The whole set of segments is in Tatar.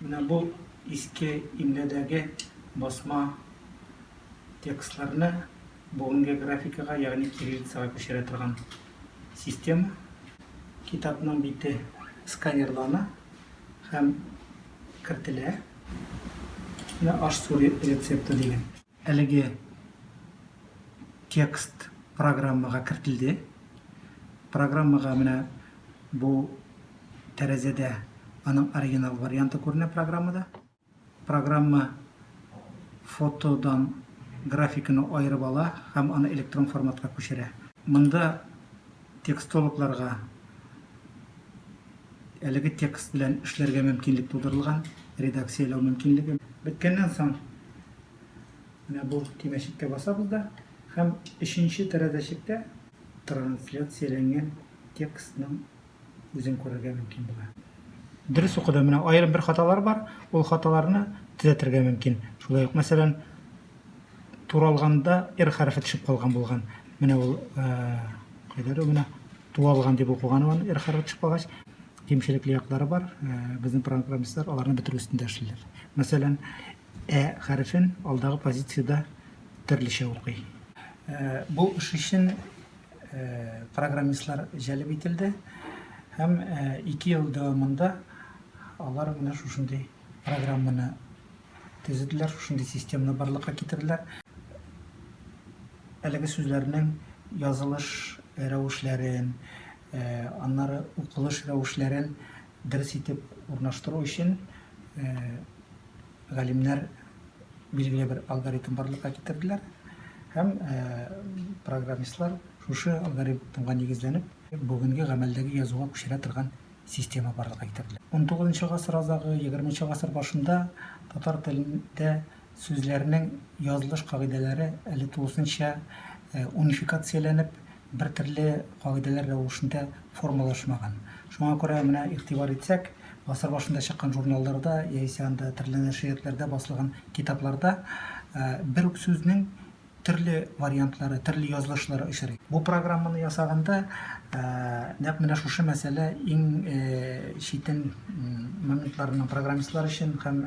Менә бу иске имләдәге басма текстларны бүгенге графикага, ягъни кириллицага күчерә торган система. Китапның бите сканерлана һәм кертелә. Менә аш-су рецепты дигән. Әлеге текст программага кертелде. Программага менә бу тәрәзәдә аның оригинал варианты күренә программада. Программа фотодан графиканы аерып ала һәм аны электрон форматка күчерә. Монда Текстологларга әлеге текст белән эшләргә мөмкинлек тудырылган, редакцияләү мөмкинлеге. Беткәннән соң, менә бу төймәчеккә басабыз да һәм өченче тәрәзәчектә трансляцияләнгән текстның үзен күрергә мөмкин була. Дөрес укыдым, менә аерым бер хаталар бар, ул хаталарны төзәтергә мөмкин. Шулай ук, мәсәлән, Туралганда р хәрефе төшеп калган булган. Менә ул кайдадыр менә туалган дип укыган ул р хәрефе төшеп калгач кимчелекле яклары бар. Безнең программистлар аларны бетерү өстендә эшлиләр. Мәсәлән, ә хәрефен алдагы позициядә төрлечә укый. Бу эш өчен программистлар җәлеп ителде һәм 2 ел дәвамында алар менә шушындый программаны төзеделәр, шушындый системны барлыкка китерделәр. Әлеге сүзләрнең язылыш рәвешләрен, аннары укылыш рәвешләрен дөрес итеп урнаштыру өчен галимнәр билгеле бер алгоритм барлыкка китерделәр һәм программистлар шушы алгоритмга нигезләнеп бүгенге гамәлдәге язуга күчерә торган система барлыкка китерелә. Унтугызынчы гасыр азагы, егерменче гасыр башында татар телендә сүзләрнең язылыш кагыйдәләре әле тулысынча унификацияләнеп, бертөрле кагыйдәләр рәвешендә формалашмаган. Шуңа күрә менә игътибар итсәк, гасыр башында чыккан журналларда яисә анда төрле нәшриятләрдә басылган китапларда бер үк сүзнең төрле вариантлары, төрле язылышлары очрый. Бу программаны ясаганда нәкъ менә шушы мәсьәлә иң читен моментларының программистлар өчен һәм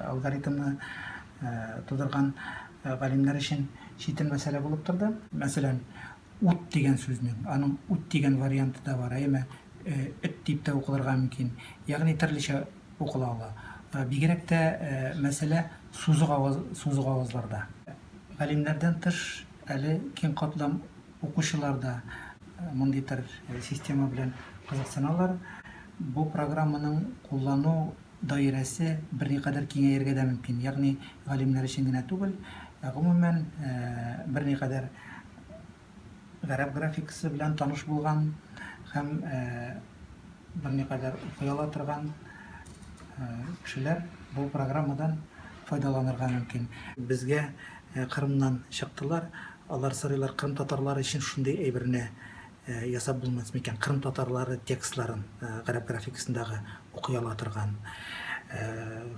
алгоритмны тудырган галимнәр өчен читен мәсьәлә булып торды. Мәсәлән, ут дигән сүзнең, аның ут дигән варианты да бар, әйеме, эт дип тә укылырга мөмкин. Ягъни төрлечә Укыла ала. Бигрәк тә мәсьәлә сузык аваз, сузык авазларда. Галимнәрдән тыш, әле киң катлам укучылар да мондый төр система белән кызыксыналар. Бу программаның куллану даирәсе берникадәр киңәергә дә мөмкин. Ягъни галимнәр өчен генә түгел, ә гомумән, берникадәр. Гарәп графикасы белән таныш булган һәм берникадәр укый ала торган кешеләр бу программадан файдаланырга мөмкин. Безгә Кырымнан чыктылар, алар сорыйлар, Кырым татарлары өчен шундый әйберне ясап булмас микән, Кырым татарлары текстларын гарәп графикасындагы укый ала торган.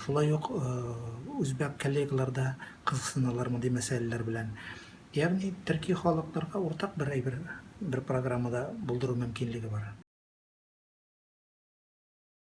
Шулай ук үзбәк коллегалар да кызыксыналар мондый мәсьәләләр белән. Ягъни төрки халыкларга уртак бер әйбер бер программада булдыру мөмкинлеге бар.